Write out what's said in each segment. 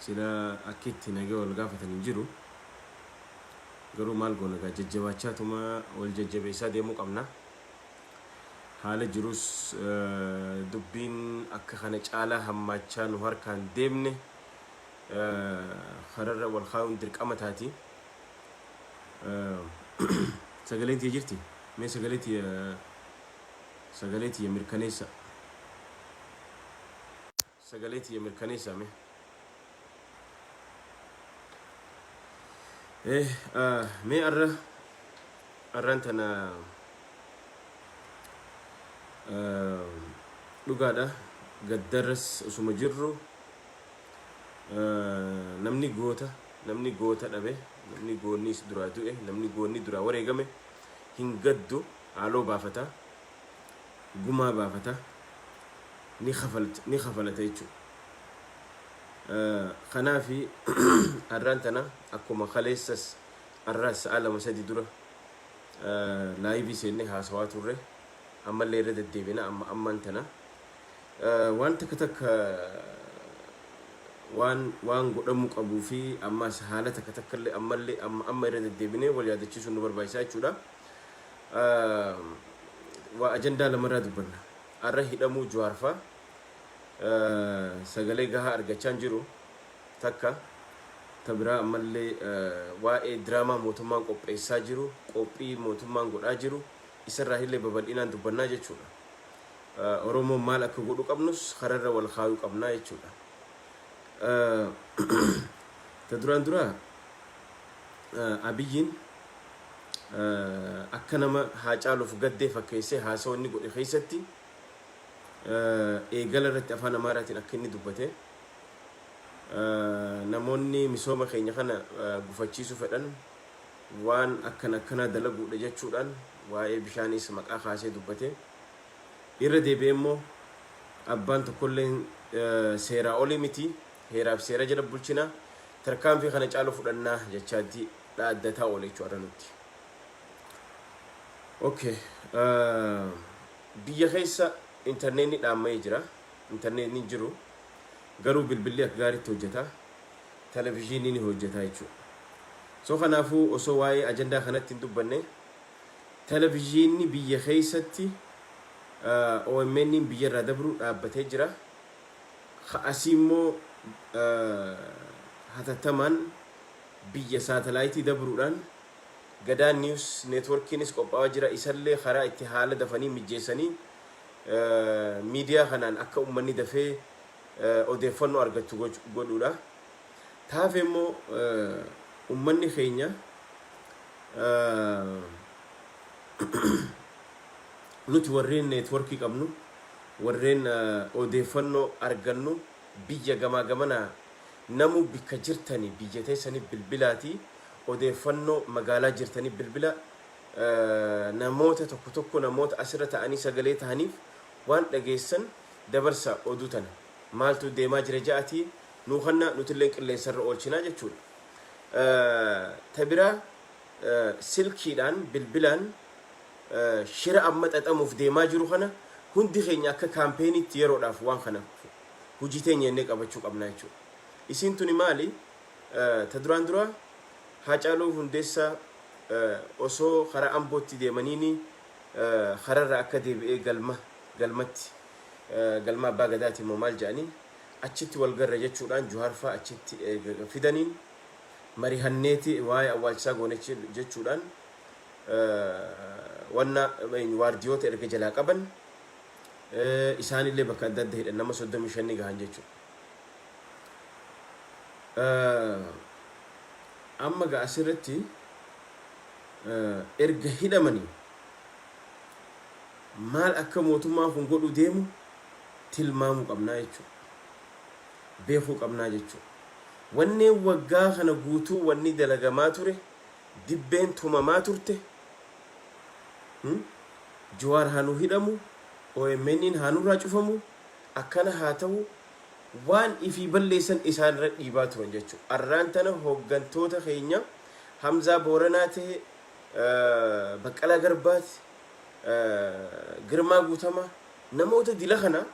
Sila akki itti nagee wal gaafatan hin jiru. Garuu maal goona egaa jajjabaachaa tuma wal jajjabeessaa deemuu qabna. Haala jirus dubbiin akka kana caalaa hammaachaa nu harkaan deemne kararra wal kaa'uun dirqama taati. Sagaleen tiyya jirti. Mee sagalee tiyya Sagalee tiyya mirkaneessa Sagalee tiyya mirkaneessa me Eh, ah, mee arra arraan tana ah, dhugaadha gaddarras osuma jirru ah, namni goota namni goota dhabe namni goonni is duraa du'e namni goonni duraa wareegame hin gaddu Haaloo baafata, gumaa baafata, ni kafalta ni kafalata jechuudha. Kanaafi har'aan tana akkuma kaleessas har'aas sa'a lama sadi dura laayivii seennee haasawaa turre ammallee irra deddeebina amma ammaan tana waan takka takka waan waan godhamuu qabuu fi ammas haala takka takkallee ammallee amma amma irra deddeebinee wal yaadachiisuun nu barbaachisaa jechuudha. waa ajandaa lamarraa dubbanna. Arra hidhamuu Juwaarfaa sagalee gahaa argachaan jiru takka ta biraa ammallee waa'ee diraamaa mootummaan qopheessaa jiru qophii mootummaan godhaa jiru isarraa illee babal'inaan dubbannaa jechuudha. Oromoon maal akka godhu qabnus kararra wal kaayuu qabnaa jechuudha. Ta duraan duraa Abiyyiin akka nama Haacaaluuf gaddee fakkeessee haasawa inni godhe keessatti eegala irratti afaan Amaaraatiin akka inni dubbate namoonni misooma keenya kana gufachiisuu fedhan waan akkan akkanaa dalaguudha jechuudhaan waa'ee bishaaniis maqaa kaasee dubbate irra deebi'ee immoo abbaan tokkollee seeraa olii miti heeraaf seera jala bulchina tarkaanfii kana caalu fudhannaa jechaatti dhaaddataa oole jechuudha har'a nutti. Okay. ah, Biyya keessa intarneetni dhaamma'ee jira. Intarneetni hin jiru. Garuu bilbilli akka gaariitti hojjeta. Televizyiinni ni hojjeta jechuudha. So kanaafuu osoo waa'ee ajandaa kanatti hin dubbanne televizyiinni biyya keessatti ah, OMN -iin biyya irraa dabruu dhaabbatee jira. Ka asii immoo ah, hatattamaan Biyya saatalaayitii dabruudhaan Gadaa News Networkiinis qophaa'aa jira. Isallee karaa itti haala dafanii mijjeessanii miidiyaa kanaan akka ummanni dafee odeeffannoo argattu godhuudha. Ta hafe immoo ummanni keenya nuti warreen networkii qabnu, warreen odeeffannoo argannu, Biyya gamaa gamanaa namuu bikka jirtani biyya teessani bilbilaati odeeffanno magaalaa jirtani bilbila namoota tokko tokko namoota asirra ta'anii sagalee tahaniif waan dhageessan dabarsa oduu tana maaltu deemaa jira ja'ati nuu kanna nutilleen qilleensarra oolchinaa jechuudha ta biraa silkiidhaan, bilbilaan, shira amma xaxamuuf deemaa jiru kana hundi keenya akka kaampeeniitti yeroodhaaf waan kana hojii teenya jennee qabachuu qabna jechuudha. Isiin tuni maali? Ta duraan dura Haacaaluu Hundeessaa osoo karaa Ambootti deemaniini karaarraa akka deebi'ee galma galmatti galma Abbaa Gadaati moo maal jedhanii achitti wal garra jechuudhaan Juhaarfaa achitti erga fidaniin marihanneeti waa'ee awwaalchisaa goone jechuudhaan wanna waardiyoota erga jalaa qaban isaanillee bakka adda adda hidhan nama 35 ni gahan jechuudha. Amma gaa asirratti erga hidhamanii maal akka mootummaan kun godhu deemu tilmaamuu qabnaa jechuudha. beekuu qabnaa jechuudha. Wanneen waggaa kana guutuu wanni dalagamaa ture, dibbeen tumamaa turte, Jawaar haa nuu hidhamu, OMNn haa nurraa cufamu, akkana haa ta'u, waan ifii balleessan isaan irra dhiibaa turan jechuudha. Arraan tana hooggantoota keenya Hamzaa Booranaa ta'e, Baqqalaa Garbaati, Girmaa Guutamaa, namoota dila kana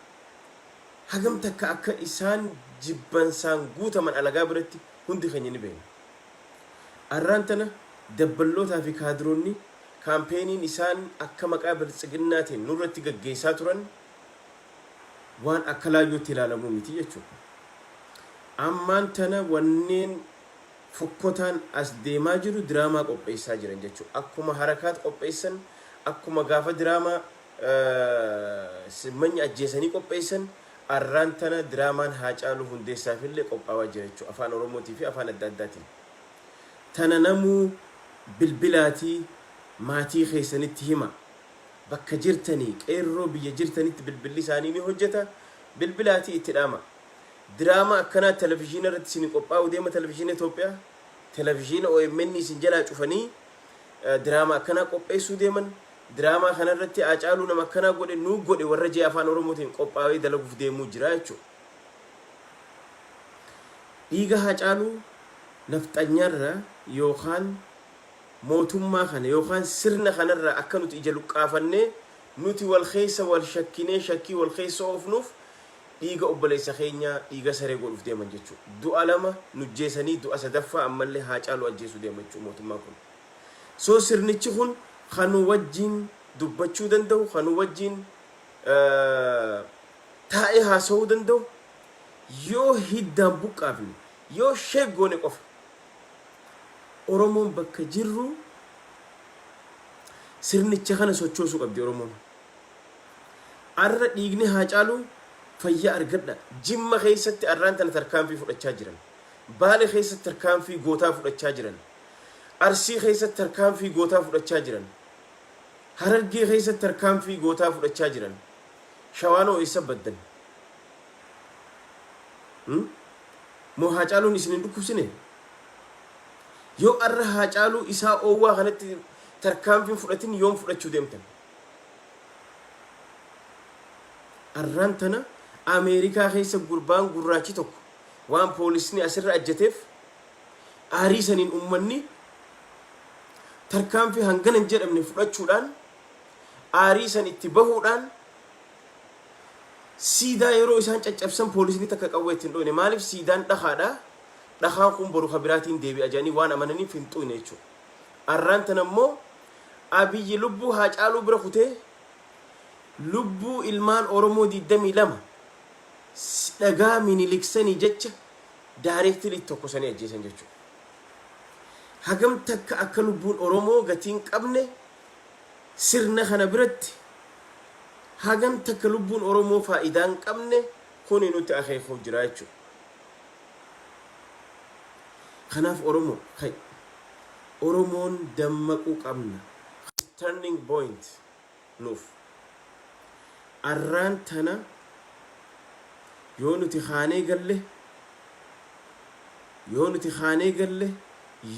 Hagam takka akka isaan jibbansaan guutaman alagaa biratti hundi keenya ni beekna. Arraan tana dabballootaa fi kaadiroonni kaampeeniin isaan akka maqaa Biltsiginnaatiin nurratti gaggeessaa turan waan akka laayyootti ilaalamuu miti jechuudha. Ammaan tana wanneen fokkotaan as deemaa jiru diraamaa qopheessaa jiran jechuudha. Akkuma Harakaat qopheessan, akkuma gaafa diraamaa. Simmanyi ajjeesanii qopheessan arraan tana diraamaan Haacaaluu Hundeessaafillee qophaawaa jira jechuudha. Afaan Oromootii fi afaan adda addaatiin. Tana namuu bilbilaatii maatii keessanitti himaa. Bakka jirtanii qeerroo biyya jirtanitti bilbilli isaanii ni hojjeta. Bilbilaatii itti dhaamaa. Diraamaa akkanaa televizhiina irratti isinii qophaa'uu deema televizhiina Itoophiyaa. Televizhiina OMN isin jalaa cufanii diraamaa akkanaa qopheessuu deeman. Diraamaa kana irratti Haacaaluu nama akkanaa godhe nuu godhe warra jee Afaan Oromootiin qophaawee dalaguuf deemuu jira jechuu dha. Dhiiga Haacaaluu Nafxanyaa irraa yookaan mootummaa kana yookaan sirna kana irraa akka nuti ija luqqaafannee nuti wal keessa wal shakkinee shakkii wal keessa oofnuuf dhiiga obboleessa keenyaa dhiiga saree godhuuf deeman jechuu dha. Du'a lama nu jjeesanii du'a sadaffaa ammallee Haacaaluu ajjeesuu deema jechuu mootummaan kun. So sirnichi kun ka nu wajjiin dubbachuu danda'u, ka nu wajjiin taa'ee haasawuu danda'u yoo hiddaan buqqaafne, yoo shake goone qofa. Oromoon bakka jirru sirnicha kana sochoosuu qabdi Oromoon. Arra dhiigni Haacaaluu fayyaa argadha. Jimma keessatti arraan tana tarkaanfii fudhachaa jiran. Baale keessatti tarkaanfii gootaa fudhachaa jiran. Arsii keessatti tarkaanfii gootaa fudhachaa jiran. Harargee keessatti tarkaanfii gootaa fudhachaa jiran. Shawaan hoo eessa baddan? Hmm? Moo Haacaaluun isin hin dhukkubsine? Yoo arra Haacaaluu isaa oowwaa kanatti tarkaanfiin fudhatin yoom fudhachuu deemtan? Arraan tana Ameerikaa keessa gurbaan gurraachi tokko waan poolisni asirra ajjeteef Aarii saniin ummanni tarkaanfii hangana hin jedhamne fudhachuudhaan aarii san itti bahuudhaan siidaa yeroo isaan caccabsan poolisni takka qawwee itti hin dhooyne maaliif siidaan dhakaadha dhakaan kun boru ka biraatiin deebi'a jedhanii waan amananiif hin xuuyne jechuudha. Arraan tana immoo abiyyi lubbuu haa caaluu bira kutee lubbuu ilmaan Oromoo 22 dhagaa miniliksanii jecha directly itti tokkosanii ajjeesan jechuudha. Hagam takka akka lubbuun Oromoo gatii hin qabne sirna kana biratti hagam takka lubbuun Oromoo faayidaa hin qabne kuni nutti akeekuuf jira jechuudha. Kanaaf Oromoo ka'i. Oromoon dammaquu qabna. Turning point nuuf. Arraan tana yoo nuti kaanee galle, yoo nuti kaanee galle,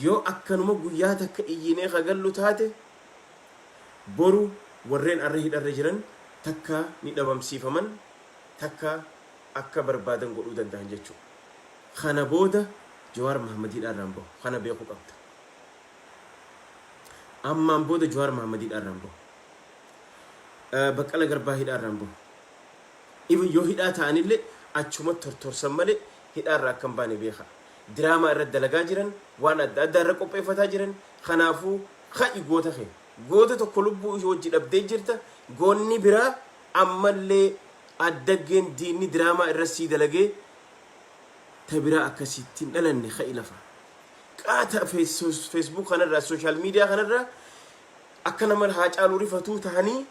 yoo akkanuma guyyaa takka iyyinee ka gallu taate, boru warreen arra hidharra jiran takka ni dhabamsiifaman, takka akka barbaadan godhuu danda'an jechuudha. Kana booda Jawaar Mahaammad hidhaarraa hin bahu. Kana beekuu qabda. Ammaan booda Jawaar Mohammed hidhaarraa hin bahu. Baqqala Garbaa hidhaarraa hin bahu. Even yoo hidhaa ta'anillee achumatti tortorsan malee hidhaarraa akka hin baane beekaa. Diraamaa irratti dalagaa jiran, waan adda addaa irra qopheeffataa jiran, kanaafuu ka'i goota kee. Goota tokko lubbuu ishee wajji dhabdee jirta, goonni biraa ammallee addaggeen diinni diraamaa irra sii dalagee ta biraa akka sitti hin dhalanne ka'i lafa. Qaata Facebook kanarraa, social media kanarraa akka nama Haacaaluu rifatuu tahanii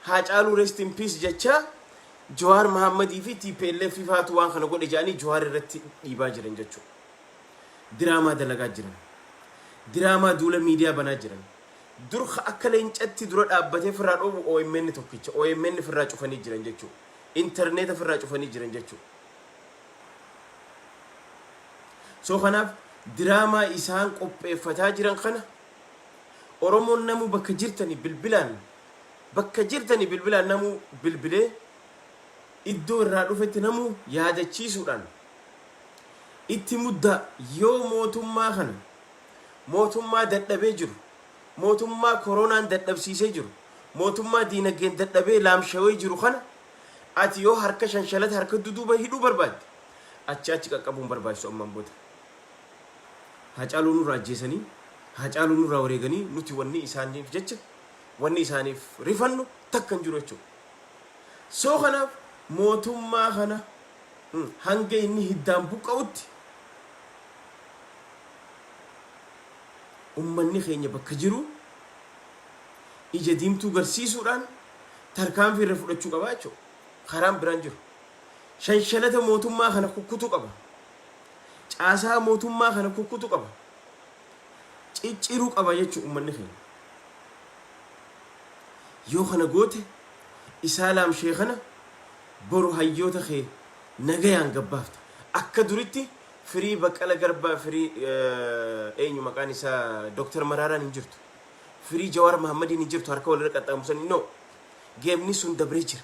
Haacaaluu rest in peace jechaa Jawaar Mahammadii fi TPLF faatu waan kana godhe jedhanii Jawaar irratti dhiibaa jiran jechuudha. Diraamaa dalagaa jiran. Diraamaa duula miidiyaa banaa jiran. Dur akka leencatti dura dhaabbatee firraa dhoobu OMN tokkicha. OMN firraa cufanii jiran jechuudha. Intarneeta firraa cufanii jiran jechuudha. So kanaaf diraamaa isaan qopheeffataa jiran kana Oromoon namuu bakka jirtanii bilbilaan bakka jirtanii bilbilaan namuu bilbilee iddoo irraa dhufetti namuu yaadachiisuudhaan itti muddaa yoo mootummaa kana mootummaa dadhabee jiru mootummaa koronaan dadhabsiisee jiru mootummaa diinagdeen dadhabee laamshawee jiru kana Ati yoo harka shanshalata harka duduuba hidhuu barbaadde achi achi qaqqabuun barbaachisu ammaan booda. Haacaaluu nurraa ajjeesanii, Haacaaluu nurraa wareeganii nuti wanni isaaniif jecha, wanni isaaniif rifannu takka hin jiru jechuudha. So kanaaf mootummaa kana hanga inni hiddaan buqqa'utti ummanni keenya bakka jiru ija diimtuu garsiisuudhaan tarkaanfii irra fudhachuu qaba jechuudha. Karaan biraan jiru. Shanshanata mootummaa kana kukkutu qaba. Caasaa mootummaa kana kukkutu qaba. Cicciruu qaba jechuudha uummanni keenya. Yoo kana goote isaa laamshee kana boru hayyoota kee nagayaan gabbaafta. Akka duritti firii baqqala garbaa firii eenyu maqaan isaa Dooktar Maraaraan hin jirtu. Firii Jawaar Mahammadiin hin jirtu harka walirra qaxxaamursanii no. Geemni sun dabree jira.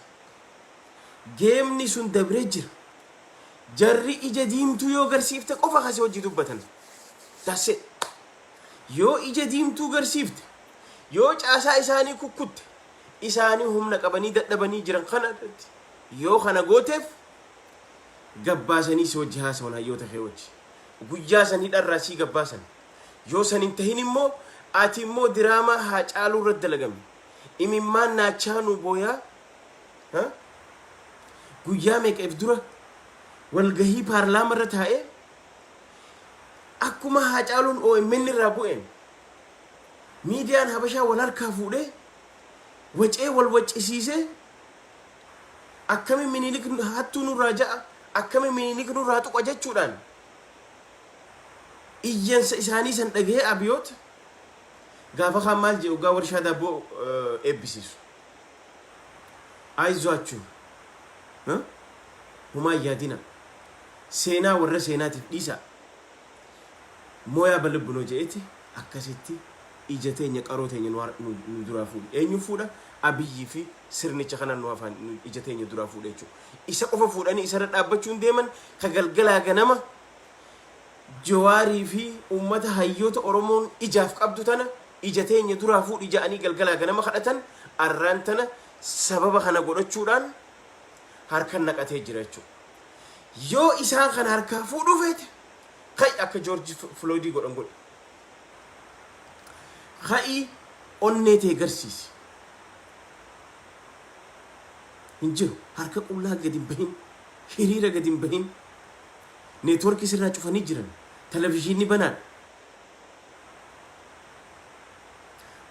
Geemni sun dabree jira. Jarri ija diimtuu yoo garsiifte qofa kasi hojii dubbatan. That's it. Yoo ija diimtuu garsiifte, yoo caasaa isaanii kukkutte, isaanii humna qabanii dadhabanii jiran kana irratti yoo kana gooteef gabbaasanii si wajji haasawan hayyoota kee wajji. Guyyaa san hidharraa sii gabbaasan. Yoo san hin tahin immoo ati immoo diraamaa Haacaaluu irratti dalagame imimmaan naachaa nuu booyaa ha? Guyyaa meeqa if dura walgahii paarlaama irra taa'ee akkuma Haacaaluun OMN irraa bu'een miidiyaan Habashaa wal harkaa fuudhee wacee wal waccisiisee akkami minilik hattuu nurraa ja'a akkami minilik nurraa tuqa jechuudhaan Iyyansa isaanii san dhagahee Abiyoot gaafa kaan maal jedhe oggaa warshaa daabboo eebbisiisu. Ayizwaachu! Homaa hin yaadinaa. Seenaa warra seenaatiif dhiisaa. Mooyaa balibbinoo jedheeti akkasitti ija teenya qaroo teenya nu har- nu- nu duraa fuudhe. Eenyu fuudha? Abiyyii fi sirnicha kanaan nu hafaan nu- ija teenya duraa fuudhe jechuudha. isa qofa fuudhanii isarra dhaabbachuun deeman ka galgalaa ganama Jawaarii fi uummata hayyoota Oromoon ijaaf qabdu tana ija teenya duraa fuudhi ja'anii galgalaa ganama kadhatan arraan tana sababa kana godhachuudhaan harkan naqatee jira jechuudha. Yoo isaan kana harkaa fuudhuu feete ka'i akka Joorji Filooydii godhan godhi. Ka'i onnee tee garsiisi. hin jiru harka qullaa gad hin bahin hiriira gad hin bahin network sirraa cufanii jiran televisiinni banaadha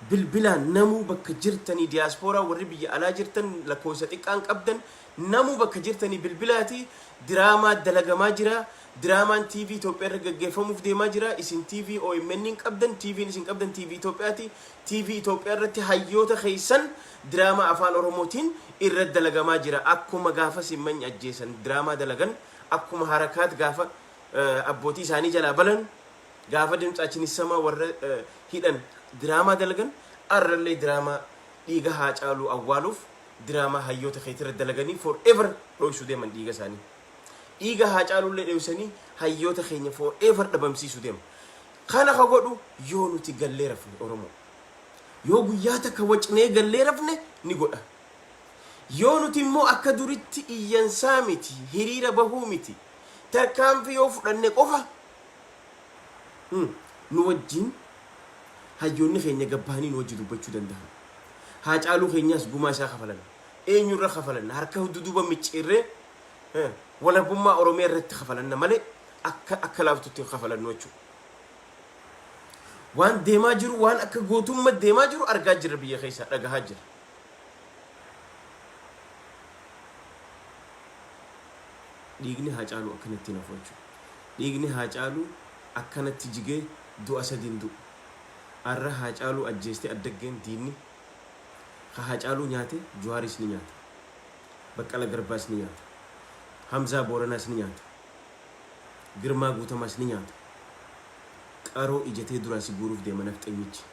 bilbilaan namuu bakka jirtanii diyaaspooraa warri biyya alaa jirtan lakkoofsa xiqqaan qabdan namuu bakka jirtanii bilbilaati diraamaa dalagamaa jira diraamaan TV Itoophiyaa irra gaggeeffamuuf deemaa jira isin TV OMN hin qabdan TVn isin qabdan TV Itoophiyaati TV Itoophiyaa irratti hayyoota keessan diraamaa afaan oromootiin irra dalagamaa jira akkuma gaafa simmany ajjeesan diraamaa dalagan akkuma harakaat gaafa abbootii isaanii jalaa balan gaafa dimtsaachin issamaa warra hidhan diraamaa dalagan arrallee diraamaa dhiiga haa caaluu awwaaluuf diraamaa hayyoota keetii irra dalaganii for ever dhoysu deeman dhiiga isaanii dhiiga haa caalullee dhoysanii hayyoota keenya for ever dhabamsiisu deema Kana ka godhu yoo nuti gallee rafne Oromoo. Yoo guyyaa takka wacnee gallee rafne ni godha. Yoo nuti immoo akka duritti iyyansaa miti, hiriira bahuu miti, tarkaanfii yoo fudhanne qofa nu wajjiin hayyoonni keenya gad bahanii nu wajji dubbachuu dandahan. Haacaaluu keenyaas gumaa isaa kafalanna. Eenyu irra kafalanna? Harka duduuba micciirree walabummaa Oromiyaa irratti kafalanna malee akka akka laaftutti hin kafalannu jechuudha. Waan deemaa jiru waan akka gootummaa deemaa jiru argaa jirra biyya keessaa dhagahaa jirra. Dhiigni haa caalu akkanatti hin hafu jechuudha. Dhiigni haa caalu akkanatti jigee du'a sadiin du'u. Arra haa caalu ajjeestee addaggeen diinni Ka Haacaaluu nyaate Juhaaris ni nyaata. Baqqala Garbaas ni nyaata. Hamzaa Booranaas ni nyaata. Girmaa Guutamaas ni nyaata. Qaroo ija tee duraa si guuruuf deema nafxenyichi.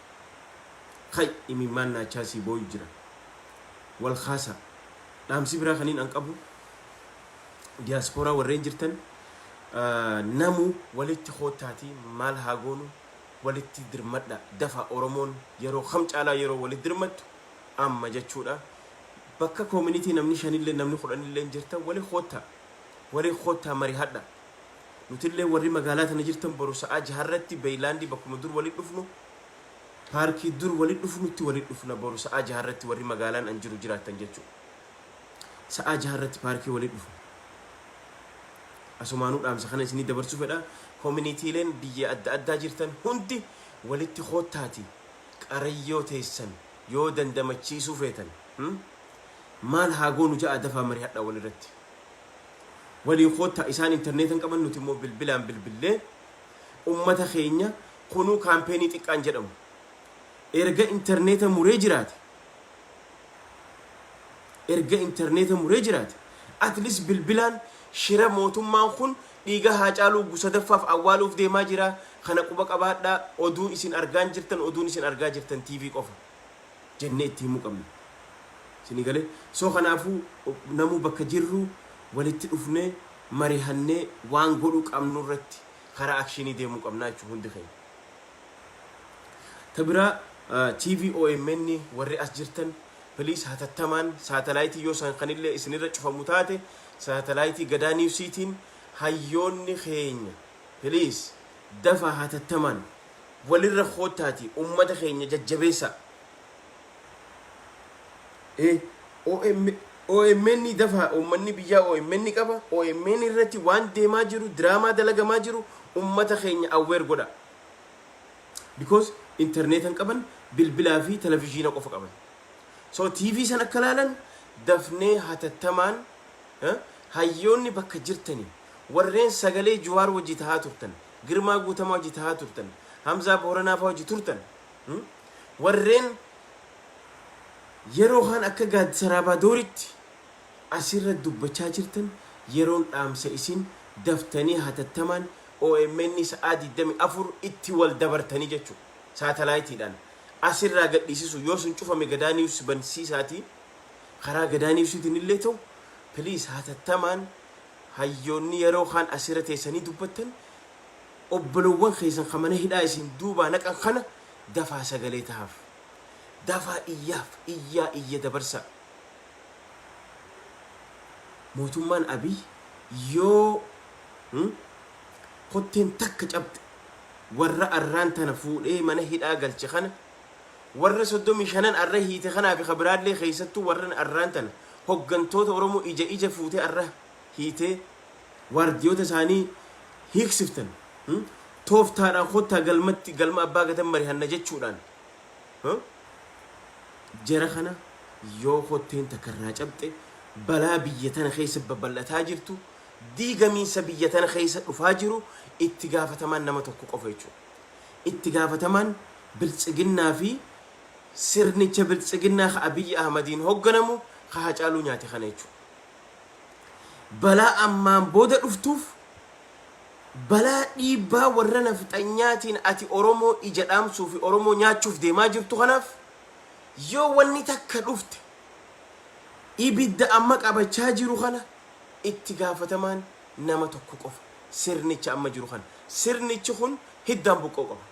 Hay! Imimmaan naachaa sii booyu jira. Wal kaasaa. Dhaamsi biraa kaniin an qabu Diyaaspooraa warreen jirtan namuu walitti koottaatii maal haa goonu? walitti dirmadha dafa oromoon yeroo kam caalaa yeroo walitti dirmattu amma jechuudha bakka community namni shanillee namni kudhanillee jirtan wali kotta wali kotta marihadha nutillee warri magaalaa tana jirtan boru sa'aa jaharratti beeylaandii bakkuma dur walitti dhufnu paarkii dur walitti dhufnutti walitti dhufna boru sa'aa jaharratti warri magaalaan an jiru jiraattan jechuudha sa'aa 6 irratti paarkii walitti dhufna. Asumaanuu dhaamsa kana isinii dabarsuu fedha. Koominiitiileen biyya adda addaa jirtan hundi walitti koottaati qarayyoo teessan yoo dandamachiisuu feetan hmm? maal haa goonu ja'a dafaa marihadhaa walirratti. Waliin koottaa isaan intarneeta hin qaban nuti immoo bilbilaan bilbillee ummata keenya kunuu kaampeenii xiqqaan jedhamu erga intarneeta muree jiraate Erga interneeta muree jiraate at least bilbilaan shira mootummaan kun dhiiga Haacaaluu wgu 3ffaaf awwaaluuf deemaa jira kana quba qabaadhaa oduu isin argaan jirtan oduun isin argaa jirtan TV qofa jennee itti himuu qabna. Isinii galee? So kanaafuu namuu bakka jirruu walitti dhufnee marihannee waan godhuu qabnurratti karaa akshiinii deemuu qabnaa jechuudha hundi keenya. Ta biraa TV omn warri as jirtan please hatattamaan saatalaayitii yoo san kanillee isinirra cufamu taate saatalaayitii Gadaa Newsiitiin hayyoonni keenya please dafaa hatattamaan walirra koottaatii ummata keenya jajjabeessaa. Ee, OM, OMN dafaa uummanni biyyaa OMN qaba, OMN irratti waan deemaa jiru, diraamaa dalagamaa jiru uummata keenya aware godhaa. Because internet hin qaban, bilbilaa fi televizhiina qofa qaban. So TV san akka laalan dafnee hatattamaan eh, hayyoonni bakka jirtanii warreen sagalee Juwaar wajji tahaa turtan, Girmaa Guutamaa wajji tahaa turtan, Hamzaa Booranaa faa wajji turtan Warreen yeroo kaan akka Gaad Saraabadooritti as irra dubbachaa jirtan yeroon dhaamsa isin daftanii hatattamaan omn sa'aa 24 itti wal dabartanii jechuu saatalaayitiidhaan as irraa gadhiisisuu yoo sun cufame Gadaa News bansiisaatii karaa Gadaa Newsiitiin illee ta'u please hatattamaan hayyoonni yeroo kaan as irra teessanii dubbattan obbolowwan keessan ka mana hidhaa isin duubaa naqan kana dafaa sagalee tahaaf. Dafaa iyyaaf. Iyyaa iyya dabarsaa. Mootummaan Abiy yoo kotteen takka cabxe warra arraan tana fuudhee mana hidhaa galche kana warra 35n arra hiite kanaa fi ka biraallee keessattuu warran arraan tana hoggantoota Oromoo ija ija fuutee arra hiitee waardiyoota isaanii hiiksiftan tooftaadhaan kottaa galmatti galma abbaa gatan marihanna jechuudhaan jara kana yoo kotteen takka irraa cabxe balaa biyya tana keessa babal'ataa jirtu diigamiinsa biyya tana keessa dhufaa jiru itti gaafatamaan nama tokko qofa jechuudha. Itti gaafatamaan biltsiginnaa fi sirnicha biltsiginnaa ka Abiyyi Ahmadiin hogganamu ka hacaaluu nyaate kana jechuudha. balaa ammaan booda dhuftuuf balaa dhiibbaa warra nafxanyaatiin ati Oromoo ija dhaamsuu fi Oromoo nyaachuuf deemaa jirtu kanaaf yoo wanni takka dhufte ibidda amma qabachaa jiru kana itti gaafatamaan nama tokko qofa sirnicha amma jiru kana sirnichi kun hiddaan buqqa'uu qaba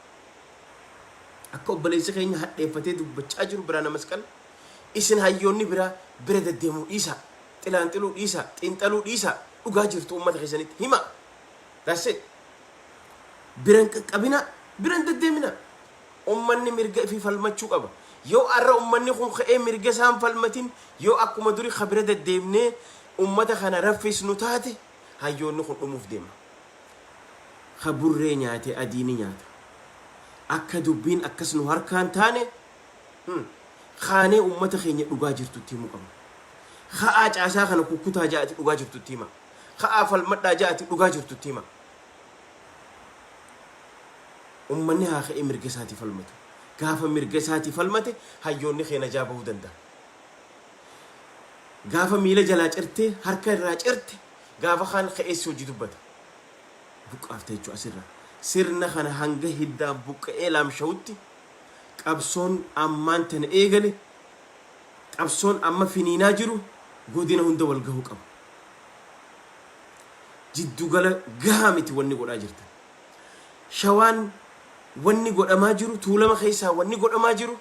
akka obboleessi keenya hadheeffatee dubbachaa jiru Biraana Masqal Isin hayyoonni biraa bira deddeemuu dhiisaa. Xilaanxiluu dhiisaa. Xiinxaluu dhiisaa. Dhugaa jirtu uummata keessanitti himaa. That's it. Bira hin qaqqabinaa. Bira hin deddeeminaa. Uummanni mirga ifii falmachuu qaba. Yoo arra uummanni kun ka'ee mirga isaa hin falmatin yoo akkuma duri ka bira deddeemnee uummata kana raffisnu taate hayyoonni kun dhumuuf deema. Ka burree nyaate adii ni nyaata. Akka dubbiin akkas nu harkaan taane kaanee ummata keenya dhugaa jirtu itti himuu qabna. Ka'aa caasaa kana kukkutaa ja'ati dhugaa jirtu itti himaa. Ka'aa falmadhaa ja'ati dhugaa jirtu itti himaa. Ummanni haa ka'ee mirga isaatii falmatu. Gaafa mirga isaatii falmate hayyoonni kee najaa bahuu danda'a. Gaafa miila jalaa cirtee harka irraa cirte gaafa kaan ka'eessi hojii dubbata. Buqqaafta jechuudha asirraa. Sirna kana hanga hiddaan buqqa'ee laamsha'utti Qabsoon ammaan tana eegale, qabsoon amma finiinaa jiru godina hunda wal gahuu qaba. Jiddu gala gahaa miti wanni godhaa jirtan. Shawaan wanni godhamaa jiru, Tuulama keessaa wanni godhamaa jiru,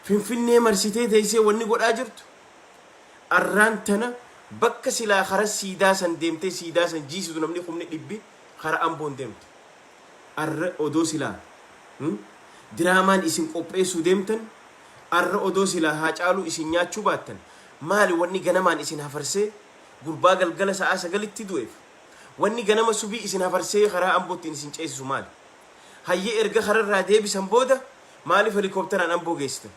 Finfinnee marsitee teessee wanni godhaa jirtu, arraan tana bakka silaa kara siidaa san deemtee siidaa san jiisitu namni kumni dhibbi kara Amboon deemtu. arra odoo silaa hmm diraamaan isin qopheessuu deemtan arra odoo silaa Haacaaluu isin nyaachuu baattan maali wanni ganamaan isin hafarsee gurbaa galgala sa'aa sagalitti du'eef wanni ganama subii isin hafarsee karaa Amboo ittiin isin ceesisu maali? Hayyee erga kararraa deebisan booda maaliif helikopteraan Amboo geessitan?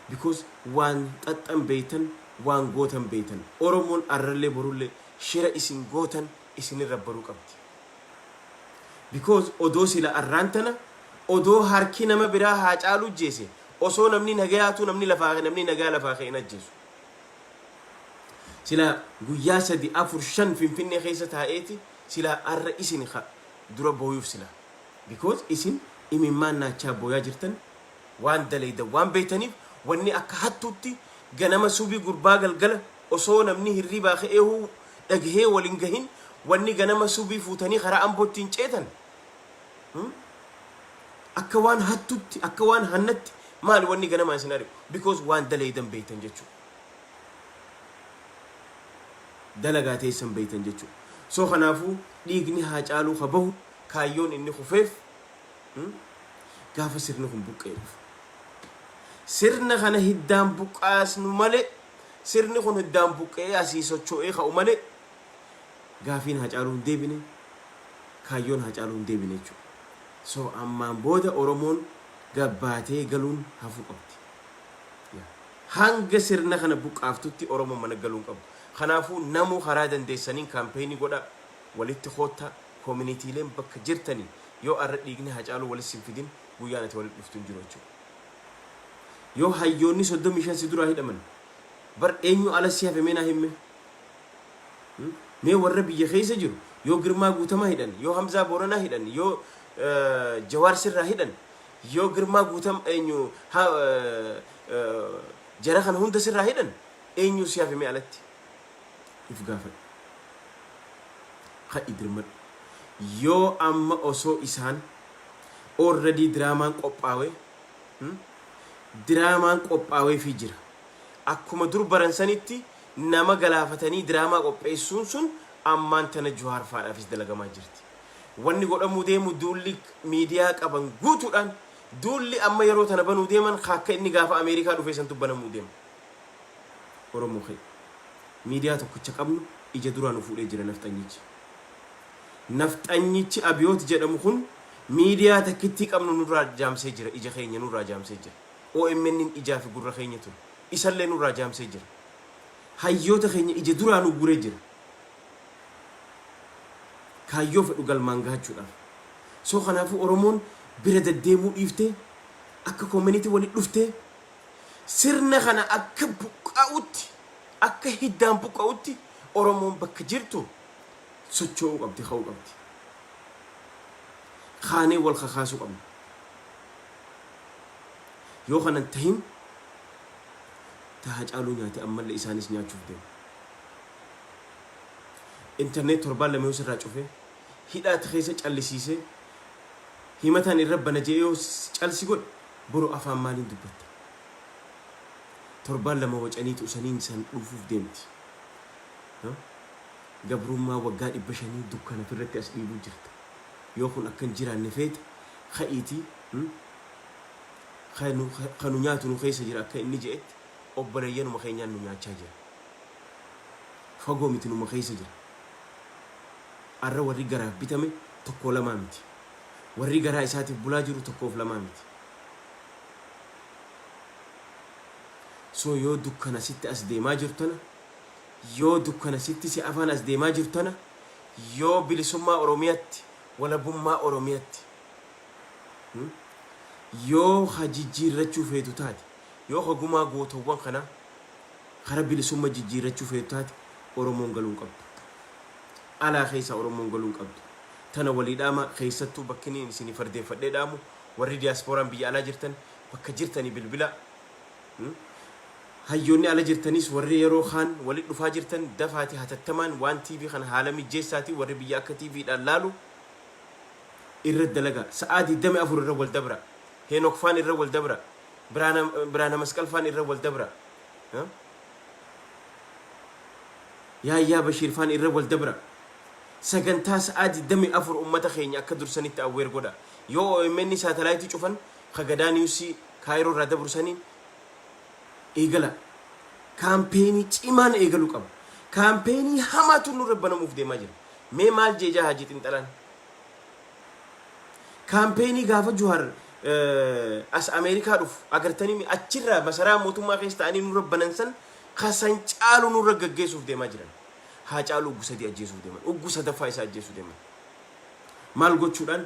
Because waan xaxxan beeytan waan gootan beeytan. Oromoon arrallee borullee shira isin gootan isinirra baruu qabdi. Because odoo sila arraan tana odoo harki nama biraa Haacaaluu ijjeese osoo namni nagayaatuu namni lafaa kee namni nagaa lafaa kee hin ajjeesu. Silaa guyyaa sadi afur shan finfinnee keessa taa'eeti silaa arra isin ka dura booyuuf silaa. Because isin imimmaan naachaa booyaa jirtan waan dalaydan waan beeytaniif wanni akka hattuutti ganama subii gurbaa galgala Osoo namni hirribaa ka'eehuu dhagahee wal hin gahin wanni ganama subii fuutanii karaa Amboo ittiin ceetan akka waan hattutti akka waan hannatti maali wanni ganamaan isin ari'u because waan dalaydan beeytan jechuudha. Dalagaa teessan beeytan jechuudha. So kanaafuu dhiigni haa caaluu ka bahu kaayyoon inni kufeef gaafa sirni kun buqqa'e dhufu. Sirna kana hiddaan buqqaasnu malee Sirni kun hiddaan buqqa'ee asii sochoo'ee ka'u malee gaafiin Haacaaluu hin deebine, kaayyoon Haacaaluu hin deebine jechuudha. So ammaan booda Oromoon gabbaatee galuun hafuu qabdi. Hanga sirna kana buqqaaftutti Oromoon mana galuu hin qabdu. Kanaafuu namuu karaa dandeessaniin kaampeenii godhaa, walitti koottaa, koominiitiileen bakka jirtanii yoo arra dhiigni Haacaaluu wali sin fidin guyyaan ati wali dhuftu hin jiru jechuudha. Yoo hayyoonni 35 si duraa hidhaman bar eenyu ala si hafe mee naa himme? Mee warra biyya keessa jiru yoo Girmaa Guutamaa hidhan, yoo Hamzaa Booranaa hidhan, yoo Jawaar sirraa hidhan, yoo Girmaa Guutam eenyu jara kana hunda sirraa hidhan eenyu si hafe mee alatti? if gaafadhu. Ka'i dirmadhu. Yoo amma osoo isaan already diraamaan qophaawe diraamaan qophaaweefii jira. Akkuma dur baran sanitti nama galaafatanii diraamaa qopheessuun sun ammaan tana Juhaar faadhaafis dalagamaa jirti. Wanni godhamuu deemu duulli miidiyaa qaban guutuudhaan duulli amma yeroo tana banuu deeman ka akka inni gaafa Ameerikaa dhufee santu banamuu deema. Oromoo keenya. Miidiyaa tokkicha qabnu ija duraa nu fuudhee jira nafxanyichi. Nafxanyichi Abiyoot jedhamu kun miidiyaa takkittii qabnu nurraa jaamsee jira, ija keenya nurraa jaamsee jira. OMN ijaa fi gurra keenya ture. Isallee nurraa jaamsee jira. Hayyoota keenya ija duraa nu guuree jira. Kaayyoo fedhu galmaan gahachuudhaaf. So kanaafuu Oromoon bira deddeemuu dhiiftee akka community walitti dhuftee Sirna kana akka buqqa'utti, akka hiddaan buqqa'utti Oromoon bakka jirtu socho'uu qabdi, ka'uu qabdi. Kaanee wal kakaasuu qabna. Yoo kana hin tahin ta Hacaaluu nyaate ammallee isaanis nyaachuuf deemu. Internet torbaan lama yoo sirraa cufe, hidhaatti keessa callisiisee himataan irra bana jedhee yoo calsi godhe Boro afaan maaliin dubbatta? Torbaan lama wacaniitu usaniin san dhuufuuf deemti. Gabrummaa waggaa dhibba shanii dukkana firratti as dhiibuu jirta. Yoo kun akka hin jiraanne feete ka'iitii ka nu ka nu nyaatu nu keessa jira akka inni je'etti obboleeyyanuma keenyaan nu nyaachaa jira. Fagoo miti numa keessa jira. Arra warri garaaf bitame tokkoo lamaa miti. Warri garaa isaatiif bulaa jiru tokkoof lamaa miti. So yoo dukkana sitti as deemaa jiru tana, yoo dukkana sitti si afaan as deemaa jiru tana, yoo bilisummaa Oromiyatti, walabummaa Oromiyatti, hmm? yoo ha jijjiirrachuu feetu taate, yoo ha gumaa gootowwan kanaa kara bilisumma jijjiirrachuu feetu taate Oromoon galuu hin qabdu. Alaa keessa Oromoon galuu hin qabdu. tana walii dhaamaa keessattuu bakkiniin isinii fardeeffadhee dhaamu warri diyaaspooraan biyya alaa jirtan bakka jirtanii bilbilaa hayyoonni ala jirtaniis warri yeroo kaan wali dhufaa jirtan dafaati hatattamaan waan TV kana haala mijjeessaatii warri biyya akka TV dhaan laalu irra dalaga sa'aa 24 irra wal dabra heenok faan irra wal dabra biraana biraana masqal faan irra wal dabra yaayyaa bashiir faan irra wal dabra Sagantaa sa'aa 24 ummata keenya akka dursanitti aware godha. Yoo omn satellite cufan ka Gadaa News Cairo irraa dabru saniin eegala. Kaampeenii cimaan eegalu qaba. Kaampeenii hamaatu nurra banamuuf deemaa jira. Mee maal jee jaa Haji Xinxalaan? Kaampeenii gaafa Juhar as Ameerikaa dhufu agartanii achirraa masaraa mootummaa keessa ta'anii nurra banan san ka san caalu nurra gaggeessuuf deemaa jiran. Haacaaluu uggu sadii ajjeesuuf deeman. Uggu sadaffaa isaa ajjeesuu deeman. Maal gochuudhaan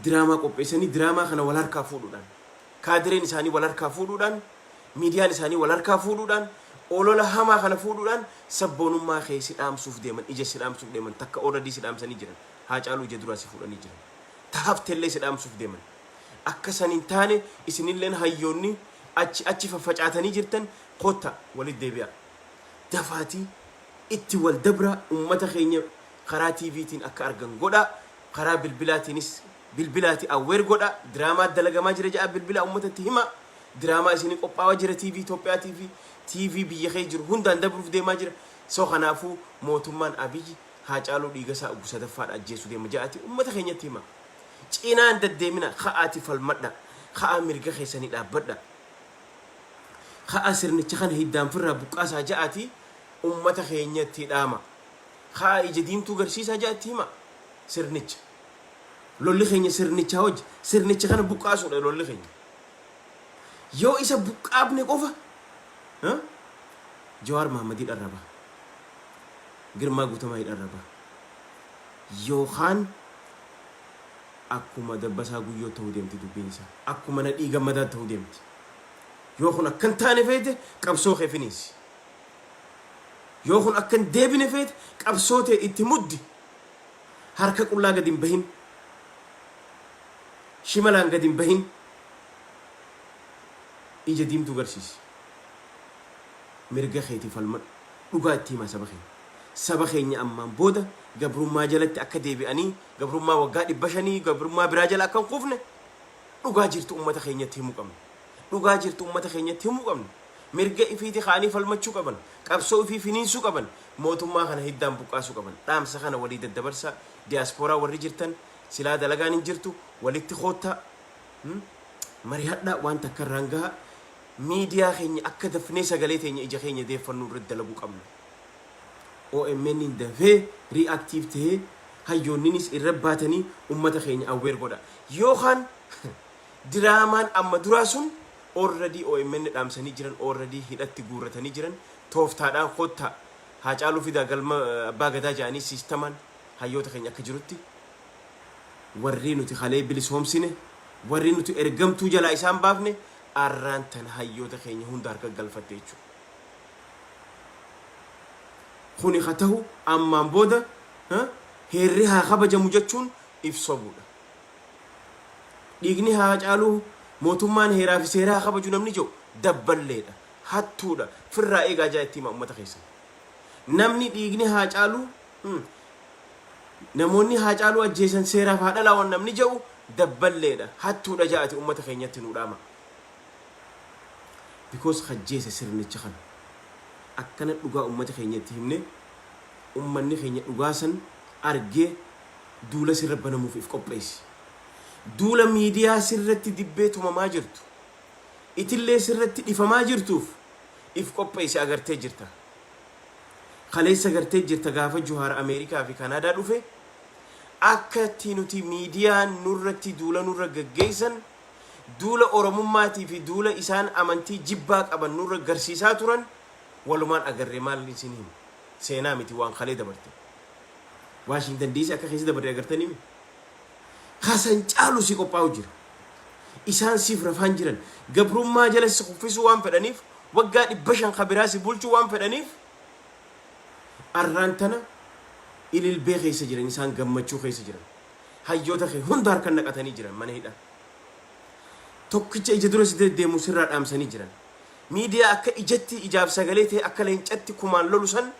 diraamaa qopheessanii diraamaa kana wal harkaa fuudhuudhaan kaadireen isaanii wal harkaa fuudhuudhaan miidiyaan isaanii wal harkaa fuudhuudhaan olola hamaa kana fuudhuudhaan sabboonummaa kee si dhaamsuuf deeman ija si dhaamsuuf deeman takka ooradii si dhaamsanii jiran haacaaluu ija duraa si fuudhanii jiran tahaftellee si dhaamsuuf deeman akka san hin taane isinilleen hayyoonni achi achi faffacaatanii jirtan kotta walitti deebi'aa dafaatii itti wal dabraa ummata keenya karaa TV tiin akka argan godhaa karaa bilbilaa tiinis bilbilaati aware godhaa diraamaa dalagamaa jira ja'aa bilbilaa ummatatti himaa diraamaa isinii qophaawa jira TV Itoophiyaa TV TV biyya kee jiru hundaan dabruuf deemaa jira so kanaafuu mootummaan Abiyyi Haacaaluu Dhiigasaa Oggu sadaffaadha ajjeesu deema ja'aati ummata keenyatti himaa cinaan daddeemina ka'aati falmadha ka'aa mirga keessanii dhaabbadha Ka'aa sirnicha kana hiddaan firraa buqqaasaa ja'aati ummata keenya itti dhaamaa. Ka'aa ija diimtuu garsiisaa ja'a itti himaa sirnicha. Lolli keenya sirnichaa wajji. Sirnicha kana buqqaasuudha lolli keenya. Yoo isa buqqaafne qofa ha? Jawaar Mahammad hidharra baha. Girmaa Guutamaa hidharra baha. Yookaan Akkuma Dabbasaa Guyyoo ta'uu deemti dubbiin isaa. Akkuma Nadhii Gammadaa ta'uu deemti. Yoo kun akka hin taane feete qabsoo kee finiinsi. Yoo kun akka hin deebine feete qabsoo tee itti muddi. Harka qullaa gadi hin bahin. Shimalaan gadi hin bahin. Ija diimtuu garsiisi. Mirga keetiif falmadhu. Dhugaa itti himaa saba keenya. Saba keenya ammaan booda gabrummaa jalatti akka deebi'anii Gabrummaa waggaa dhibba shanii gabrummaa biraa jala akka hin kufne dhugaa jirtu ummata keenyatti himuu qabna. Dhugaa jirtu ummata keenyatti himuu qabna. Mirga ifiiti ka'anii falmachuu qaban. Qabsoo ifii finiinsuu qaban. Mootummaa kana hiddaan buqqaasuu qaban. Dhaamsa kana walii daddabarsaa. Diyaaspooraa warri jirtan silaa dalagaan hin jirtu walitti koottaa. Hmm? Marihadhaa waan takka irraan gahaa. Miidiyaa keenya akka dafnee sagalee teenya ija keenya deeffannuu irratti dalaguu qabna. OMNn dafee reactive tahee hayyoonninis irra baatanii ummata keenya aware godha. Yoo kaan diraamaan amma duraa sun already omn dhaamsanii jiran already hidhatti guurratanii jiran tooftaadhaan kottaa Haacaaluu fidaa galma Abbaa Gadaa jedhanii siistamaan hayyoota keenya akka jirutti warri nuti kalee bilisoomsine warri nuti ergamtuu jalaa isaan baafne arraan tana hayyoota keenya hunda harka galfatte jechuudha. Kuni ka tahu ammaan booda heerri haa kabajamu jechuun if sobuudha. Dhiigni Haacaaluu mootummaan heeraa fi seera haa kabaju namni jedhu dabballeedha, hattuudha, firraa eegaa jaa itti himaa ummata keessan. Namni dhiigni Haacaaluu namoonni Haacaaluu ajjeesan seeraaf haa dhalaawan namni jedhu dabballeedha, hattuudha jaa ati ummata keenyatti nuu dhaama. because ka ajjeese sirnicha kana. Akkana dhugaa ummata keenya itti himne ummanni keenya dhugaa san argee duula sirra banamuuf if qopheessi. Duula miidiyaa sirratti dibbee tumamaa jirtu itillee sirratti dhifamaa jirtuuf if qopheessi agartee jirta. Kaleessa gartee jirta gaafa Juhaar Ameerikaa fi Kanaadaa dhufe akka itti nuti miidiyaan nurratti duula nurra gaggeessan duula Oromummaatii fi duula isaan amantii jibbaa qaban nurra garsiisaa turan walumaan agarre maal isin hima seenaa miti waan kalee dabarte Waashingtan diisii akka keessa dabarre agartanii mi kasan caalu si qophaa'u jira isaan siif rafaan jiran gabrummaa jala si kuffisuu waan fedhaniif waggaa dhibba shan kabiraa si bulchuu waan fedhaniif arraan tana ililbee keessa jiran isaan gammachuu keessa jiran hayyoota kee hunda harkan naqatanii jiran mana hidhaa. Tokkicha ija dura si deddeemu sirraa dhaamsanii jiran. Miidiyaa akka ijatti ijaaf sagalee ta'e akka leencatti kumaan lolu san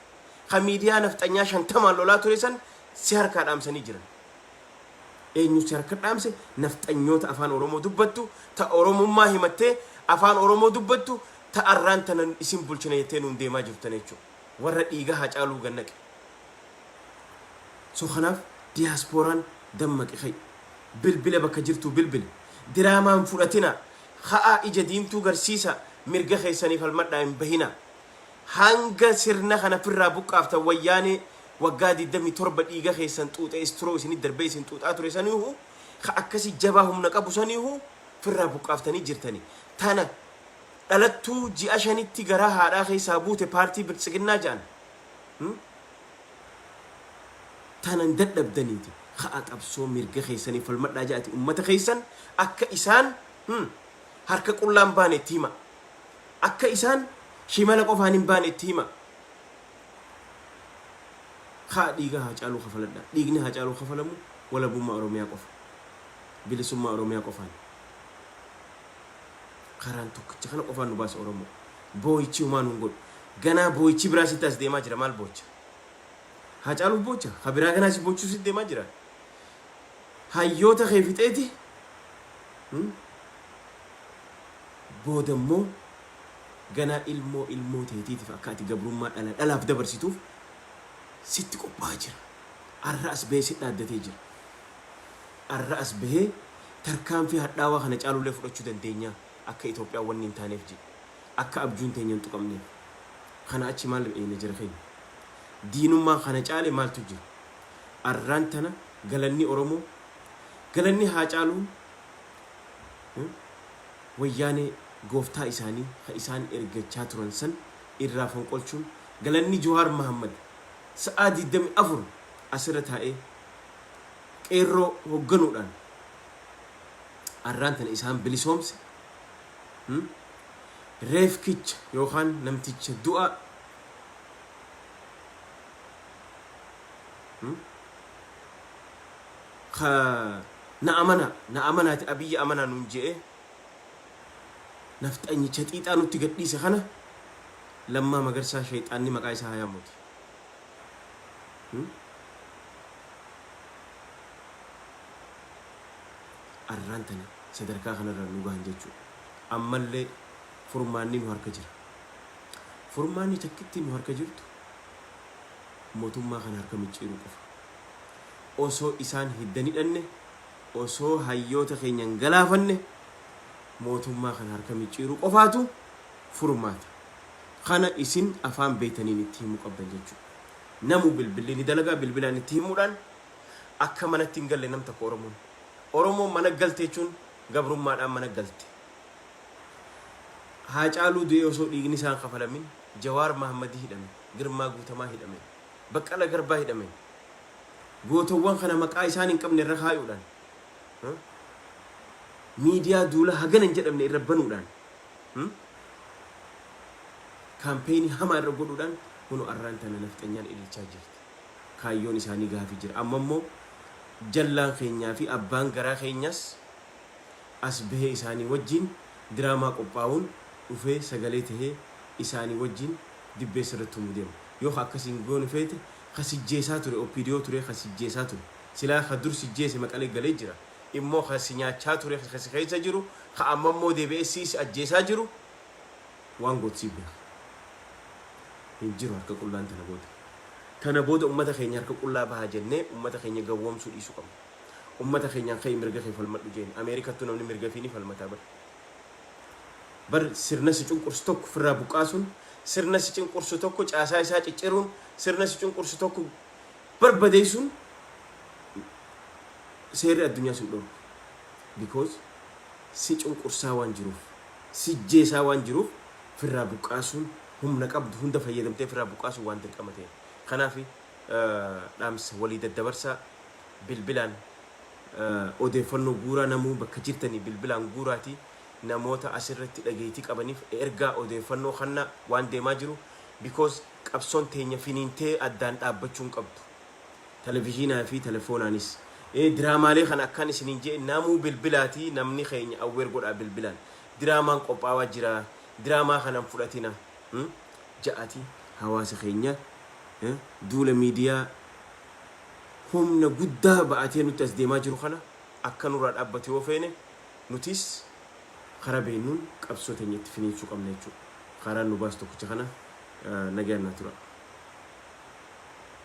kan miidiyaa nafxanyaa shantamaan lolaa ture san si harkaa dhaamsanii jiran. Eenyu si harka dhaamse nafxanyoota afaan Oromoo dubbattu ta Oromummaa himattee afaan Oromoo dubbattu ta arraan tanan isin bulchina jettee nuun deemaa jirtan jechuudha. Warra dhiiga haa caaluu gannaqe. So kanaaf diasporaan dammaqi ka'i. Bilbila bakka jirtuu bilbili. Diraamaa hin fudhatinaa. Ka'aa ija diimtuu garsiisaa. Mirga keessanii falmadhaa hin bahinaa. Hanga sirna kana firraa buqqaaftan wayyaanee waggaa 27 dhiiga keessan xuuxe istro isinit darbee isin xuuxaa ture saniihu ka akkasi jabaa humna qabu saniihu firraa buqqaaftanii jirtani. Tana dhalattuu ji'a shanitti garaa haadhaa keessaa buute paartii biltsiginnaa ja'an tanan dadhabdaniiti ka'aa qabsoo mirga keessaniif falmadhaa ja'ati ummata keessan akka isaan harka qullaan baane itti himaa. Akka isaan shimala qofaan hin baane itti himaa. Ka'aa dhiiga Haacaaluu kafaladhaa. Dhiigni Haacaaluu kafalamu walabummaa Oromiyaa qofa. Bilisummaa Oromiyaa qofaan. Karaan tokkicha kana qofaan nu baasa Oromoo. Booyichi homaa nun godhu. Ganaa booyichi biraa sitti as deemaa jira maal boocha? Haacaaluuf boocha? Ka biraa ganaa si boochuu sitti deemaa jira? Hayyoota kee fixeeti? Hmm? Booda immoo ganaa ilmoo ilmoo teetiitiif akka ati gabrummaa dhala dhalaaf dabarsituuf sitti qophaa'aa jira. Arra as ba'ee si dhaaddatee jira. Arra as bahee tarkaanfii hadhaawaa kana caalullee fudhachuu dandeenya akka Itoophiyaan wanni hin taaneef ji akka abjuun teenya hin tuqamneef. Kana achi maal eeyna jara keenya. Diinummaa kana caale maaltu jira. Arraan tana galanni Oromoo galanni Haacaaluun Wayyaanee gooftaa isaanii ka isaan ergachaa turan san irraa fonqolchuun galanni Jowaar Mahaammad sa'aa 24 as irra taa'ee Qeerroo hogganuudhaan arraan tana isaan bilisoomse, reefkicha yookaan namticha du'aa ka na amanaa, na amanaati Abiyyi amanaa nuun je'ee nafxanyicha xiixaa nutti gadhiise kana Lammaa Magarsaa sheyxaanni maqaa isaa haa yaamuuti. arraan tana sadarkaa kanarra nu gahan jechuudha. Ammallee furmaanni nu harka jira. Furmaanni takkitti nu harka jirtu mootummaa kana harka micciiruu qofa. Osoo isaan hiddan hidhanne, osoo hayyoota keenya hin galaafanne mootummaa kana harka micciiruu qofaatu furmaata. Kana isin afaan beetaniin itti himuu qabdan jechuudha. Namuu bilbilli ni dalagaa bilbilaan itti himuudhaan akka manatti hin galle nam tokko Oromoon. Oromoon mana galte jechuun gabrummaadhaan mana galte. Haacaaluu du'ee osoo dhiigni isaa hin kafalamin, Jawaar Mahammadii hidhame, Girmaa Guutamaa hidhame, Baqqala Garbaa hidhame. Gootowwan kana maqaa isaan hin qabne irra kaayuudhaan, miidiyaa duula hagana hin jedhamne irra banuudhaan, kaampeenii hamaa irra godhuudhaan kunoo arraan tana nafxanyaan ililchaa jirti. Kaayyoon isaanii gaafii jira. Amma immoo jallaan keenyaa fi abbaan garaa keenyaas as bahee isaanii wajjiin diraamaa qophaa'uun dhufee sagalee tahee isaanii wajjiin dibbeessa irratti tumuu deema. Yoo ka akkasii hin goone feete ka sijjeesaa ture OPDO turee ka sijjeesaa ture. Silaa ka dur sijjeese maqalee galee jira. immoo kan si nyaachaa ture kan si keessa jiru kan amma immoo deebi'ee si si ajjeesaa jiru waan gootu siif beeka. Hin jiru harka qullaan tana booda. Tana booda ummata keenya harka qullaa baha jennee ummata keenya gawwoomsuu dhiisuu qabna. Ummata keenyaan ka'ii mirga kee falmadhu jeeni. Ameerikattuu namni mirga fi ni falmataa bar. Bar sirna si cunqursu tokko ofirraa buqqaasuun, sirna si cinqursu tokko caasaa isaa cicciruun, sirna si cunqursu tokko Barbadeessuun seerri addunyaa sin dhorku because si cunqursaa waan jiruuf sijjeesaa waan jiruuf firraa buqqaasuun humna qabdu hunda fayyadamtee firraa buqqaasuun waan dirqama ta'eef kanaafi dhaamsa walii daddabarsaa bilbilaan odeeffannoo guuraa namuu bakka jirtanii bilbilaan guuraati namoota asirratti dhageeytii qabaniif ergaa odeeffannoo kannaa waan deemaa jiru because qabsoon teenya finiintee addaan dhaabbachuu hin qabdu. Televizyinaa fi telefoonaanis. Ee diraamaalee kana akkan isiniin je'e namuu bilbilaatii namni keenya aware godhaa bilbilaan. Diraamaan qophaawaa jiraa diraamaa kana hin fudhatina ja'atii hawaasa keenya duula miidiyaa humna guddaa ba'atee nutti as deemaa jiru kana akka nurraa dhaabbatu yoo feene nutis Karaa beeknuun qabsoo teenya itti finiinsuu qabna jechuudha. Kaaraan nu baasu tokkicha kana. Nagaan naa turaa.